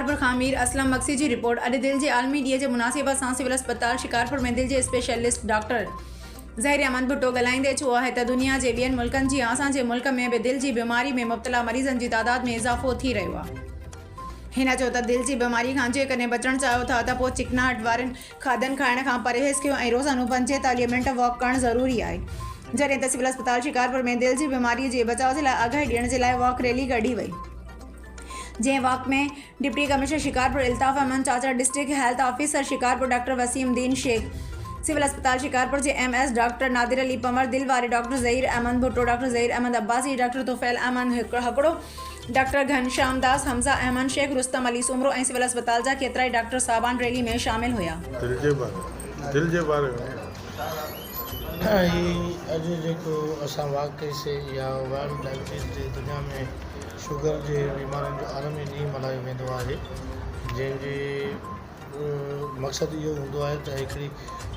شڪارپور کان مير اسلم مگسي جي رپورٽ، اڄ دل جي عالمي ڏينهن جي مناسبت سان سول اسپتال شڪارپور ۾ دل جي اسپيشلسٽ ڊاڪٽر ظهير احمد ڀٽو ڳالهائيندي چيو آهي ته دنيا جي ٻين ملڪن جيان اسان جي ملڪ ۾ به دل جي بيماري ۾ مبتلا مريضن جي تعداد ۾ اضافو ٿي رهيو آهي. هن چيو ته دل جي بيماري کان جيڪڏهن بچڻ چاهيو ٿا ته پوء چڪناهٽ وارين کاڌن کائڻ کان پرهيز ڪيو ۽ روزانو پنجين تاليهه منٽ واڪ ڪرڻ ضروري آهي. جڏهن ته سول اسپتال شڪارپور ۾ دل جي بيماري جي بچاء جي لاء آگاهي ڏيڻ جي لاء واڪ ريلي ڪڍي وئي. جنهن walk ۾ deputy commissioner Shikarpur Altaf Ahmed Chachar, district health officer Shikarpur doctor Waseem Uddin Sheikh, civil اسپتال شڪارپور جي M S doctor Nadir Ali Panhwar, دل واري doctor Zaheer Ahmed Bhutto, doctor Zaheer Ahmed Abbasi, doctor Tufail Ahmed Hakro, doctor Ghansham Das, Hamza Ahmed Sheikh, Rustam Ali Soomro ۽ civil اسپتال جا ڪيترائي ڊاڪٽر صاحبان ريلي ۾ شامل هيا. دل جي باري ۾ دل جي باري ۾ هي اڄ جيڪو اسان واقعي سي يا ورلڊ ڊائبٽيز ڊي دنيا ۾ شگر جي بيمارين جو عالمي ڏينهن ملهايو ويندو آهي جنهن جي مقصد اهو هوندو آهي ته هڪڙي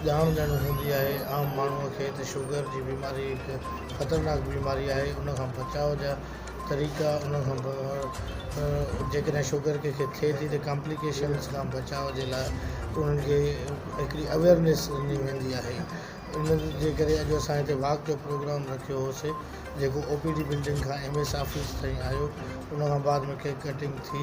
ڄاڻ ڏيڻ هوندي آهي عام ماڻهو کي ته شگر جي بيماري هڪ خطرناڪ بيماري آهي ان کان بچاء جا طريقا ان کان پوء جيڪڏهن شوگر ڪنهن کي ٿئي ٿي ته ڪامپليڪيشنس کان بچاء جي لاء انهن کي هڪڙي اويئرنيس ڏني ويندي آهي ان جي ڪري اڄ اسان هتي واڪ جو پروگرام رکيو هوسي جيڪو او پي ڊي بلڊنگ کان ايم ايس آفيس تائين آيو ان کان بعد ۾ ڪيڪ ڪٽنگ ٿي